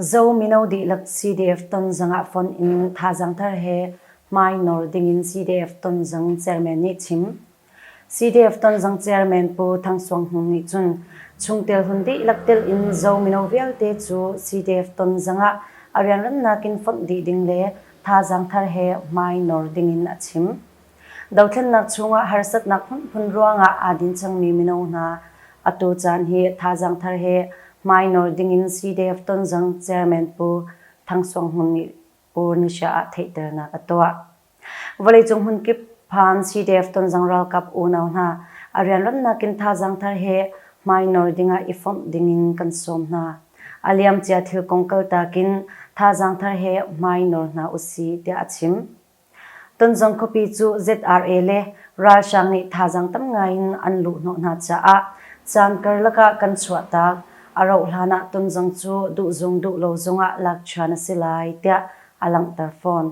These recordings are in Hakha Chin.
Zo mino dihlak CDF tonzang ah fonh in thazaang thar he hmai nawr dingin CDF tonzang chairman nih chim. CDF tonzang chairman Pu Thang Suang Hmung nih cun chungtel hun dihlak tel in Zo mino vialte cu CDF tonzang ah a rianremnak in fonh dih ding le thazaang thar he hmai nawr dingin a chim. Dothlennak chungah harsatnak hmunhmun ruangah aa din cangmi mino hna a tucaan hi thazaang thar he hmai nawl dingin CDF Tonzang Chairman Pu Thang Suang Hmun nih Pu Nusha ah theihternak a tuah. Vawleicung hmunkip phan CDF Tonzang ralkap unau hna a rianrunnak in thazaang thar he hmai nawl dingah i fomh dingin kan sawm hna. A liamcia thil kong kaltak in thazaang thar he hmai nawl hna usih tiah a chim. Tonzong khuapi cu ZRA le ralhrang nih thazaang tam ngai in an luhhnawh hna caah caan karlak ah kan chuahtak. A rauh hlan ah Tonzong cu duhzung duh lo zongah lakṭhian a si lai tiah a langhter fawn.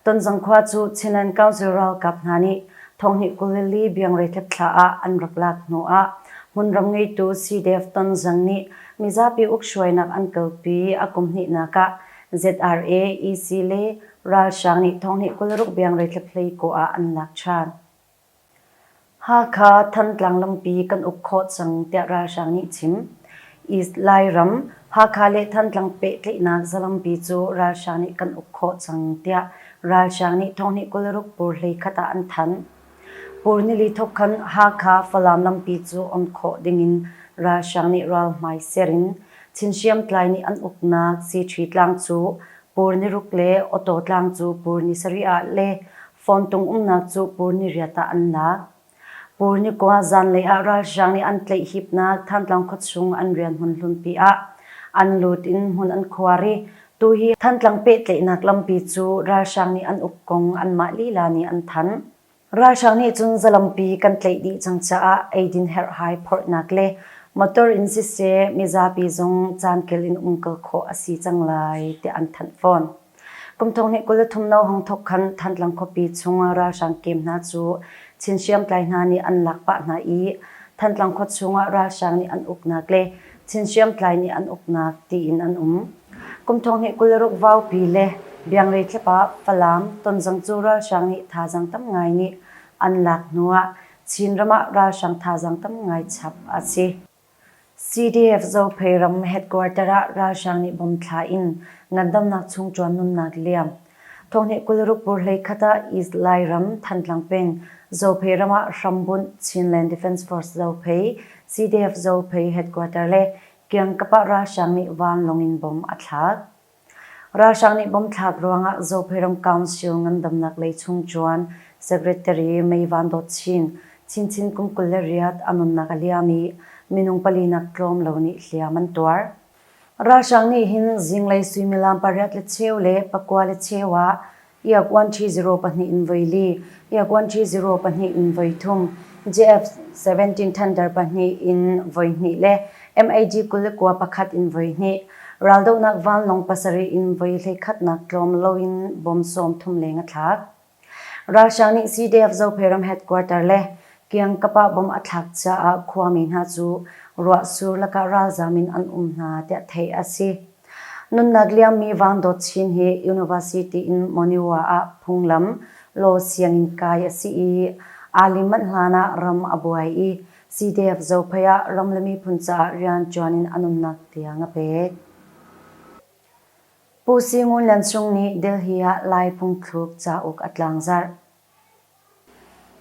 Tonzong khua cu Chinland Council ralkap hna nih thonghnih kulili biangreitlik thla ah an rak lak hnu ah hmunram ngeitu CDF Tonzong nih mizapi ukhruainak an kalpi a kum hnihnak ah ZRA, EC le ralhrang nih thonghnih kul ruk biangreithlep hlei kaw ah an lak ṭhan. Hakha Thantlang lampi kan uk khawh cang tiah ralhrang nih chim. East Lairam, Hakha le Thantlang pehtlaihnak zalampi cu ralhrang nih kan uk khawh cang tiah ralhrang nih thonghnih kul ruk pur hlei khat ah an thanh. Pur nili thok khan Hakha Falam lampi cu on khawh dingin ralhrang nih ral hmai ser in Chin hriamtlai nih an uknak Sitri tlang cu Pur niruk le Awtaw tlang cu pur ni sarih ah le Fawntung umnak cu pur ni riat ah an lak. Pur ni kua zanlei ah ralhrang nih an tlaih hipnak Thantlang khuachung an rian hmun hlunpi ah an lut in hmun an khuar i tuhi Thantlang pehtlaihnak lampi cu ralhrang nih an uk kong anmah lila nih an thanh. Ralhrang nih cun zalampi kan tlaih dih cang caah eidin herhhai phorhnak le motor in siseh mizapi zong caankel in um kal khawh a si cang lai tiah an thanh fawn. Kum thong hnih kul le thum no hong thok khan Thantlang khuapi chung ralhrang kem hna cu Chin hriamtlai hna nih an lak pah hna i Thantlang khua chung ah ralhrang nih an uknak le Chin hriamtlai nih an uknak tiin an um. Kumthong nih kul ruk vaupi le biangrei thlap ah Falam tonzang cu ralhrang nih thazang tam ngai nih an lak hnu ah Chinram ah ralhrang thazang tam ngai chap a si. CDF Zophei ram headquarter ah ralhrang nih bom thla in ngandamnak chung ṭuan nunnak liam. Thong nih kul ruk pur hlei khat ah East Lairam Thantlang peng Zophei ram ah hrambunh Chinland Defence Force Zophei, CDF Zophei headquarter le Kiangkap ah ralhrang nih vanlawng in bomb a thlak. Ralhrang nih bomb thlak ruangah Zopheiram Council ngandamnak lei chung ṭuan Secretary May Van Dawt Chin, Chinchin kum kul le riat a nunnak a liam i minung palinak tlawm lo nih hliam an tuar. Ralhrang nih hin zinglei suimilam pariat le cheu le pakua le cheu ah Iak-uanṭhi zero pahnih in voi li, iak-uanṭhi zero pahnih in voi thum, JF seventeen Thunder pahnih in voi hnih le MAG kul le kua pakhat in voi hnih, raldohnak vanlawng pasarih in voi hleikhatnak tlawm loin bom sawm thum leng a thlak. Russia nih CDF Zopheiram headquarter le Kiang-Kapa bomb a thlak caah khuami hna cu ruah sur lakah ralzam in an um hna, tiah theih a si. Nunnak liammi Vangdawt Chin hi University in Monywa ah phunglam Law sianginn kai a si i aa lim manh hlanah ram a buai i CDF Zophei ah ram le miphun caah rianṭuan in an umnak tiang a pek. Pu Si Ngun Lian Cung nih Delhi ah Lai phungthluk cauk a tlangzarh.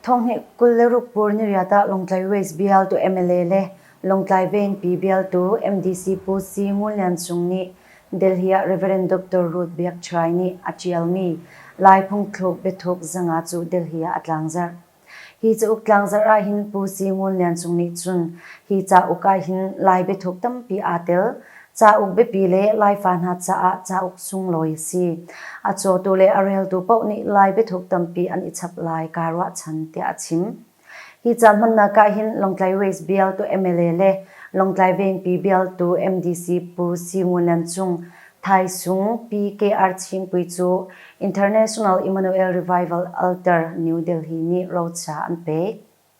Thonghnih kul le ruk pur niriat ah Lawngtlai West bialtu mla le Lawngtlai Vengpi bialtu MDC Pu C Ngun Lian Cung nih Delhi ah Rev. Dr. Ruth Biak Chhai nih a ṭialmi Lai phungthluk biathuk zanga cu Delhi ah a tlangzarh. Hi cauk tlangzarh ah hin Pu C Ngun Lian Cung nih cun hi cauk ah hin Lai biathuk tampi aa tel. Cauk biapi le Laifa hna caah cauk sunglawi a si. A cawtu le a reltu paoh nih Lai biathuk tampi an i chap lai kaa ruahchan, tiah a chim. Hi caan hmannak ah hin Lawngtlai Race bialtu mla le Lawngtlai Vengpi bialtu MDC Pu Si Ngun Lian Cung, Thai Sung, PKR Chingpui cu International Emmanuel Revival Altar, New Delhi nih roca an pek.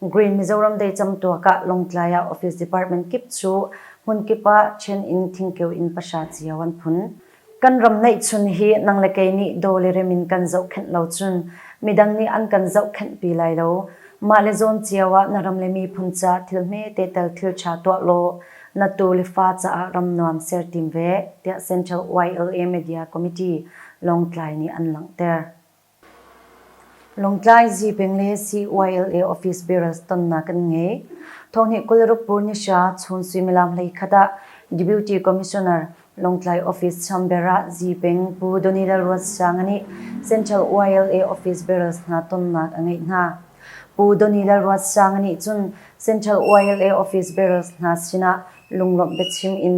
Green Mizoram Decang tuak ah Lawngtlai ah Office Department kip cu hmun kip ah ṭhen in thingkeu in pahra cio an phun. Kan ram neihchun hi nang le kei nih daw le rem in kan zohkhenh lo cun midang nih an kan zohkhenh pi lai lo. Mah le zawn cio ah na ram le miphun caah thil hmete tel thilṭha tuah law na tu le fa caah ram nuam ser tim ve, tiah Central YLA Media Committee Lawngtlai nih an langhter. Lawngtlai Zipeng le CYLA office barrels tonnak kan ngei. Thawhnih kul ruk pur ni hra chun suimilam hleikhat ah Deputy Commissioner Lawngtlai Office Chamber ah Zipeng Pu Donny Lalruatsanga nih Central YLA office barrels hna tonnak a ngeih hna. Pu Donny Lalruatsanga nih cun Central YLA office barrels hna sinah lunglawmh biachim in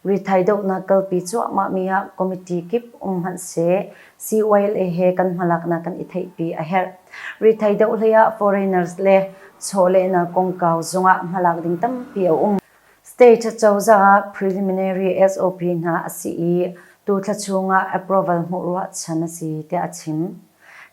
rithai dohnak kalpi cuahmahmi ah committee kip um hmanh seh CYLA he kan hmalaknak kan i theihpi a herh. Rithei deuh hleiah foreigners le chawlehnak kongkau zungah hmalak ding tampi a um. State cozah ah preliminary SOP hna a si i tu thla chungah approval hmuh ruahchan a si tiah a chim.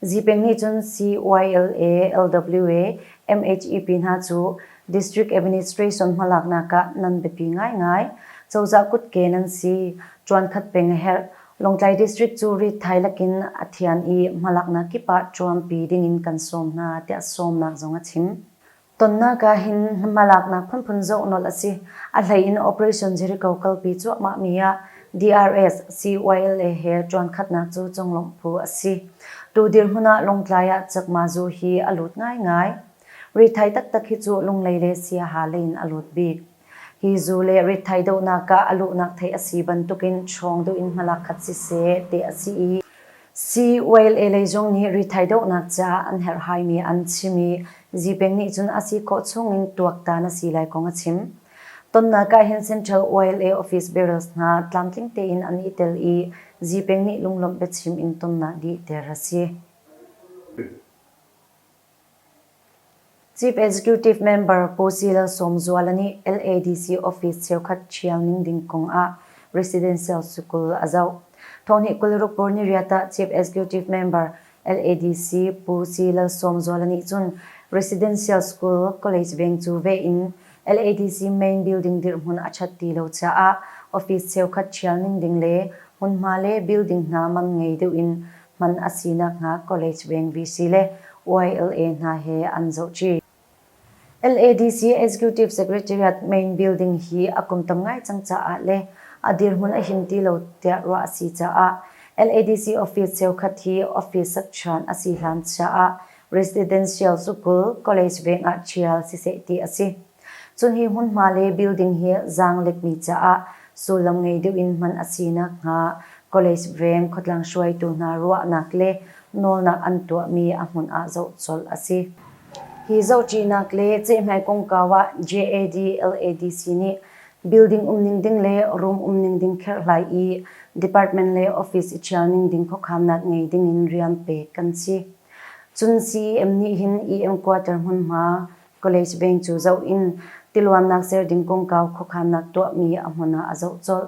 Zipeng nih cun CYLA, LWA, MHEP hna cu District Administration hmalaknak ah nan biapi ngaingai. Cozah kutke nan si, ṭuankhat peng a herh, Lawngtlai District cu ritthai lakin a thian i hmalaknak kip ah ṭuanpi dingin kan sawm hna tiah sawmnak zong a chim. Tonnak ahhin hmalaknak phunphun zoh nolh a si. A hleiin Operation Jericho kalpi cuahmahmi ah DRS, CYLA he ṭuankhatnak cu conglawmh phu a si. Tu dirhmun ah Lawngtlai ah Cakma Zu hi a lut ngaingai. Ritthai taktak hi cu Lunglei le Siaha leiin a lut bik. Hi zuu le rithai dohnak ah a luhnak thei a si bantukin hrawng duh in hmalakhat siseh teh a si i, CYLA lei zong nih rithai dohnak caah an herhaimi an chim i, Zipeng nih cun a si khawh chungin tuaktan a si lai kong a chim. Tonnak ah hin Central YLA office barrels hna tlamtling tein an i tel i, Zipeng nih lunglawmh biachim in tonnak dih ter a si. Chief Executive Member Pu Si Lal Sawmzuala nih LADC office cheukhat ṭhial ning ding kong ah residential sukul a zoh. Thawhni kul rukbur ni riat ah Chief Executive Member LADC Pu Si Lal Sawmzuala nih cun residential school college veng cu ve in LADC main building dirhmun a ṭhat ti lo caah office cheukhat ṭhial ning ding le hmunhma le building hna man ngei deuh in hman a si nakhnga College Veng VC le YLA hna he an zohchih. LADC Executive Secretariat Main Building hi a kum tam ngai cang caah le a dirhmun a him ti lo tiah ruah a si caah LADC office cheukhat hi office sakṭhan a si hlan chia ah residential sukul, college veng ah ṭhial siseh ti a si. Cun hi hmunhma le building hi zaanglekmi caah sullam ngei deuh in hman a si nakhnga College Veng khuatlang hruaitu hna ruahnak le nawlnak an tuahmi a hmun ah zoh colh a si. Hi zohṭihnak le cehhmai kongkau ah JAD LADC nih building um ning ding le room um ning ding kherhlai i department le office i ṭhial ning ding khuakhamnak ngei ding in rian pek kan si. Cun CEM nih hin EM quarter hmunhma College Veng cu zoh in tiluannak ser ding kongkau khuakhannak tuahmi a hmun ah a zoh colh.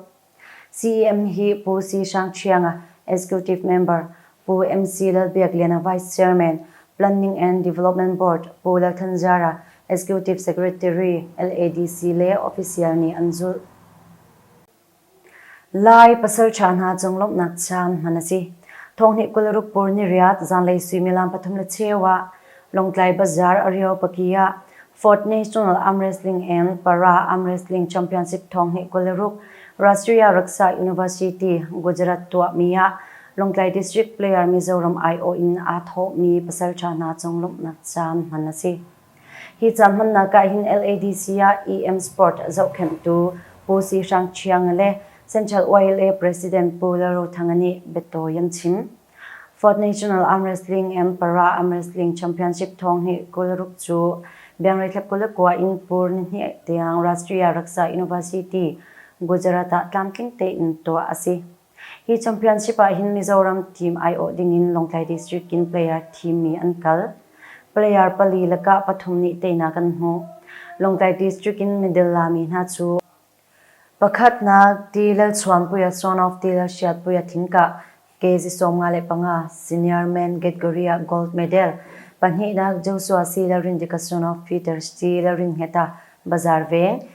CEM hi Pu Si Hrang Ṭhianga, Executive Member, Pu MC Lalbiakliana Vice Chairman, Planning and Development Board, Pu Lalthan Ziara, Executive Secretary, LADC, le official nih an zulh. Lai pasalṭha hna cung lawmhnak thiam hman a si. Thawngnih kul ruk pur ni riat zanlei suimilam pathum le cheu ah Lawngtlai Bazaar Areo paki ah Fort National Arm Wrestling and Para Arm Wrestling Championship thawngnih kul le ruk Rashtriya Raksa University Gujarat tuahmi ah Lawngtlai District Player Mizoram aiawh in aa thawhmi pasalṭha hna cung lawmhnak thiam hman a si. Hi ca hmannak ah hin LADC ah EM Sport zohkhenhtu Pu Si Hrang Ṭhiang le Central YLA President Pu Lalrothanga nih biatawi an chim. Fourth National Arm Wrestling and Para Arm Wrestling Championship thawng hi kul ruk cu Biangreithlap Kulekua in Pur ni hnih tiang Rashtriya Raksa University, Gujarat ah tlamtling tein tuah a si. Hi championship ah hin Mizoram team aiawh dingin Lawngtlai District in player thim mi an kal. Player pali lakah pathum nih teinak an hmuh. Lawngtlai District in middle lami hna cu pakhatnak Tilalchuanpuia Son of Tilalhriatpuia Thingkah kg sawmnga le panga, senior men category-ah gold medal, pahnihnak Joshua C. Lalrindika Son of Peters T. Lalrinngeta Bazar Veng